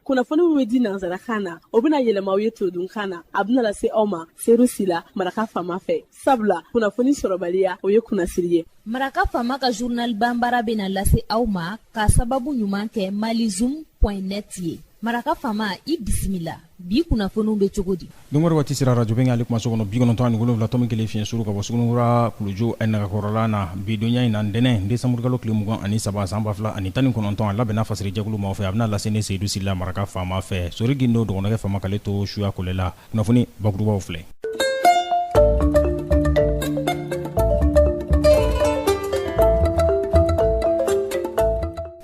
kunnafoni min bɛ di nansarakan na o bɛna yɛlɛma aw ye todunkan na a bɛna lase aw ma seyidu sila maraka faama fɛ sabula kunnafoni sɔrɔbaliya o ye kunnasiri ye maraka faama ka zurnal banbaara bɛna lase aw ma ka sababu ɲuman kɛ malizum point net ye maraka faama i bisimila bi kunnafoniw bɛ cogo di donkɔrɔ waati sera arajo bɛnkan ale kumaso kɔnɔ bi kɔnɔntɔn ani wolonwula tɔmi kelen fiɲɛ suru ka bɔ suguninkura kulujo a nagakɔrɔla na bidonya in na ntɛnɛn desanburukalo tile mugan ani saba san ba fila ani tan ni kɔnɔntɔn a labɛnna fasiri jɛkulu ma fɛ a bɛna lase ne seyidu sila maraka faama fɛ sori gindo dɔgɔnɔkɛ faama k'ale to suya kole la kunnafoni bakurubaw filɛ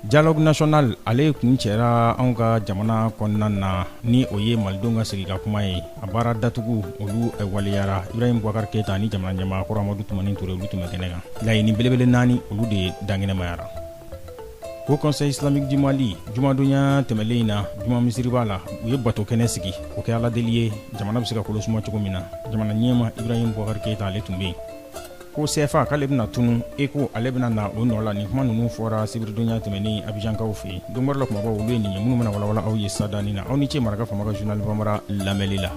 Dialogue national ale kuncɛra anw ka jamana kɔnɔna na ni o ye malidenw ka sigi ka kuma ye a baara datugu olu waleyara Ibrahim Boubacar Keita ani jamana ɲɛmaa kɔrɔ Amadou Toumani Toure olu tun bɛ kɛnɛ kan laɲini belebele naani olu de dankɛnɛmayara Haut conseil islamique du Mali jumadonya tɛmɛlen in na juma misiriba la u ye bato kɛnɛ sigi o kɛ aladeli ye jamana bɛ se ka kolo suma cogo min na jamana ɲɛmaa Ibrahim Boubacar Keita ale tun bɛ yen ko sɛfa k'ale bɛna tunu eko ale bɛna na o nɔ la nin kuma ninnu fɔra sibiridonya tɛmɛnen abijankaw fɛ yen don bɔrɛ la kumabaw olu ye nin ye minnu bɛna walawala aw ye sisadani na aw ni ce maraka faama ka journal banbara lamɛnli la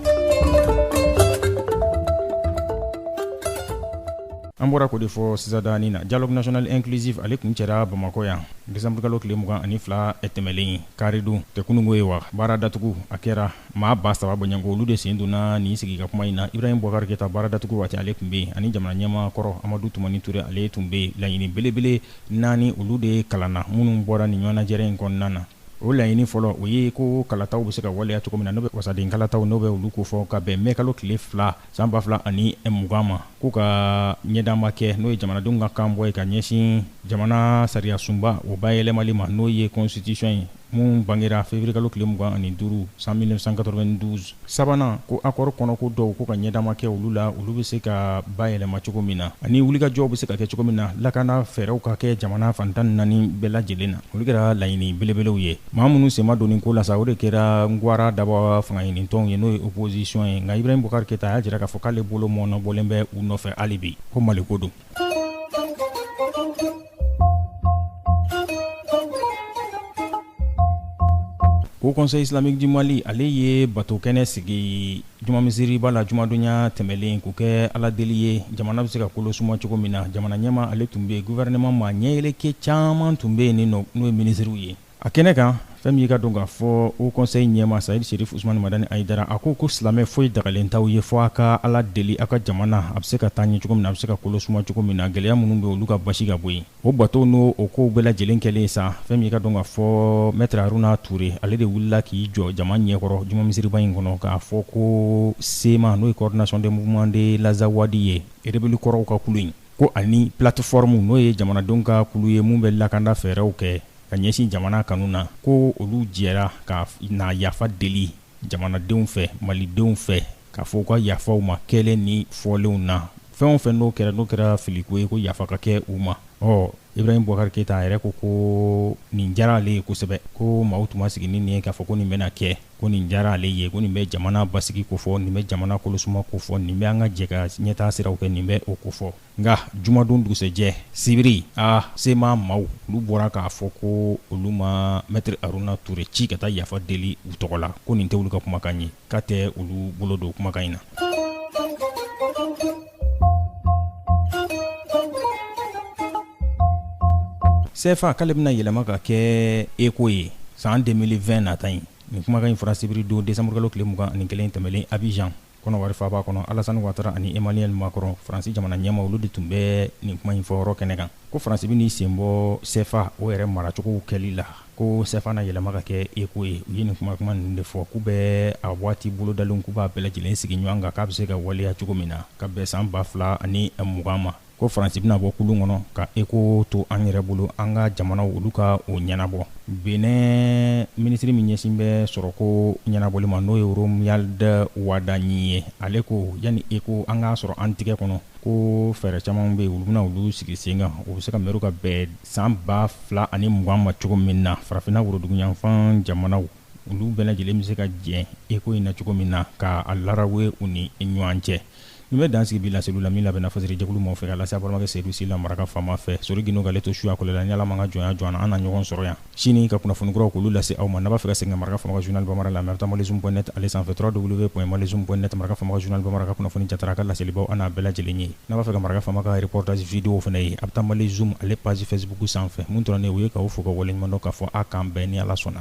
an bɔra k'o de fɔ sisadani na dialogue national inclusif ale kuncɛra bamakɔ yan desanburukalo tile mugan ani fila tɛmɛlen in karidon tɛ kunun ko ye wa baara datugu a kɛra Maa ba saba bɔɲɔgɔnko olu de sen donna nin sigi ka kuma in na Ibrahim Boubacar Keita baara datugu waati ale tun bɛ yen ani jamana ɲɛmaa kɔrɔ Amadou Toumani Toure ale tun bɛ laɲini belebele naani olu de kalanna minnu bɔra nin ɲɔgɔnnajɛrɛ in kɔnɔna na o laɲini fɔlɔ o ye ko kalataw bɛ se ka waleya cogo min na n'o bɛ wasaden kalataw n'o bɛ olu kofɔ ka bɛn mɛkalo tile fila san ba fila ani mugan ma ko ka ɲɛdaama kɛ n'o ye jamanadenw ka kanbɔ ye ka ɲɛsin jamana sariyasunba o bayɛlɛmali ma n'o ye constitution ye min bangera feburuyekalo tile mugan ani duuru san 1992 sabanan ko akɔri kɔnɔko dɔw ko ka ɲɛdaama kɛ olu la olu bɛ se ka bayɛlɛma cogo min na ani wulikajɔw bɛ se ka kɛ cogo min na lakana fɛɛrɛw ka kɛ jamana fan tan ni naani bɛɛ lajɛlen na olu kɛra laɲini belebelew ye Maa minnu sen ma don nin ko la sa o de kɛra ngwara daba fangaɲinitɔnw ye n'o ye opposition ye nka Ibrahim Boubacar Keita y'a jira k'a fɔ k'ale bolo mɔɔnɔbɔlen bɛ u nɔfɛ hali bi ko mali ko don Haut conseil islamique du Mali ale ye batokɛnɛ sigi Juma misiriba la jumadonya tɛmɛnlen k'o kɛ Ala deli ye, jamana bɛ se ka kolo suma cogo min na, jamana ɲɛmaa ale tun bɛ yen, gouvernement maa ɲɛyɛlɛkɛ caman tun bɛ yen nin nɔ n'o ye minisiriw ye. A kɛnɛ kan, fɛn min y'i k'a dɔn k'a fɔ Haut conseil ɲɛmaa Seyid Serifu Usumani Madani Ayidara, a ko ko silamɛ foyi dagalen t'aw ye fɔ a ka Ala deli aw ka jamana a bɛ se ka taa ɲɛ cogo min na, a bɛ se ka kolo suma cogo min na, gɛlɛya minnu bɛ yen olu ka basi ka bɔ yen. O bato n'o o kow bɛɛ lajɛlen kɛlen sa fɛn min' k'a dɔn k'a fɔ mɛtiri haruna ture ale de wulila k'i jɔ jama ɲɛkɔrɔ juma misiriba in kɔnɔ k'a fɔ ko sema n'o ye coordination des mouvements de l'azawad ye erebɛli kɔrɔw ka kulu in ko ani plateforme n'o ye jamanadenw ka kulu ye minnu bɛ lakanda fɛɛrɛw kɛ ka ɲɛsin jamana kanu na ko olu jɛra ka na yafa deli jamanadenw fɛ malidenw fɛ k'a fɔ u ka yafa u ma kɛlen ni fɔlenw na fɛn o fɛn n'o kɛra n'o kɛra filiko ye ko yafa ka kɛ u ma ɔ ibrahim bubakari keyita a yɛrɛ ko ko nin diyara ale ye kosɛbɛ ko maaw tun ma sigi ni nin ye k'a fɔ ko nin bɛna kɛ ko nin diyara ale ye ko nin bɛ jamana basigi kofɔ nin bɛ jamana kolosuma kofɔ nin bɛ an ka jɛ ka ɲɛtaa siraw kɛ nin bɛ o kofɔ nka jumadon dugusɛjɛ sibiri a sema maaw olu bɔra k'a fɔ ko olu ma mɛtiri haruna ture ci ka taa yafa deli u tɔgɔ la ko nin tɛ olu ka kumakan ye k'a tɛ olu bolo don kumakan in na sefa k'ale bɛna yɛlɛma ka kɛ eko ye san 2020 nata in nin kumakan in fɔra sibiridon desanburukalo tile mugan ni kelen tɛmɛlen abijan kɔnɔwari faaba kɔnɔ alasani watara ani emmanuel macron faransi jamana ɲɛmaa olu de tun bɛ nin kuma in fɔyɔrɔ kɛnɛ kan ko faransi bɛna i sen bɔ cfa o yɛrɛ maracogow kɛli la ko cfa na yɛlɛma ka kɛ eko ye u ye nin kuma kuma ninnu de fɔ k'u bɛ a waati bolodalenw k'u b'a bɛɛ lajɛlen sigi ɲɔgɔn kan k'a bɛ se ka waleya cogo min na ka bɛn san ba fila ani mugan ma ko faransi bɛna bɔ kulu kɔnɔ ka eko to an yɛrɛ bolo an ka jamanaw olu ka o ɲɛnabɔ benɛn minisiri min ɲɛsin bɛ sɔrɔko ɲɛnabɔli ma n'o ye romuald wadagni ye ale ko yanni eko an k'a sɔrɔ an tɛgɛ kɔnɔ ko fɛɛrɛ caman bɛ yen olu bɛna olu sigi sen kan o bɛ se ka mɛru ka bɛn san ba fila ani mugan ma cogo min na farafinna woroduguyanfan jamanaw olu bɛɛ lajɛlen bɛ se ka jɛ eko in na cogo min na k'a larawuwe u ni ɲɔgɔn cɛ nin bɛ dan sigi bi laseliw la min labɛnna fasiri jɛkulu maa fɛ ka lase aw balimakɛ seyidu si la maraka faama fɛ sori gindo k'ale to suyakɔ la ni ala ma ka jɔnya jɔ an na an na ɲɔgɔn sɔrɔ yan sini ka kunnafoni kuraw k'olu lase aw ma n'a b'a fɛ ka segin maraka faama ka journal bamanan la a bɛ taa malizum.net ale sanfɛ www.malizum.net maraka faama ka journal bamanan ka kunnafoni jara ka laselibaa an' bɛɛ lajɛlen ye n'a b'a fɛ ka maraka faama ka reportage vidéow fana ye a bɛ taa malizum ale page facebook sanfɛ min dɔrɔn nin o ye k'aw fo ka waleɲumandɔn k'a fɔ an ka bɛn ni ala sɔnna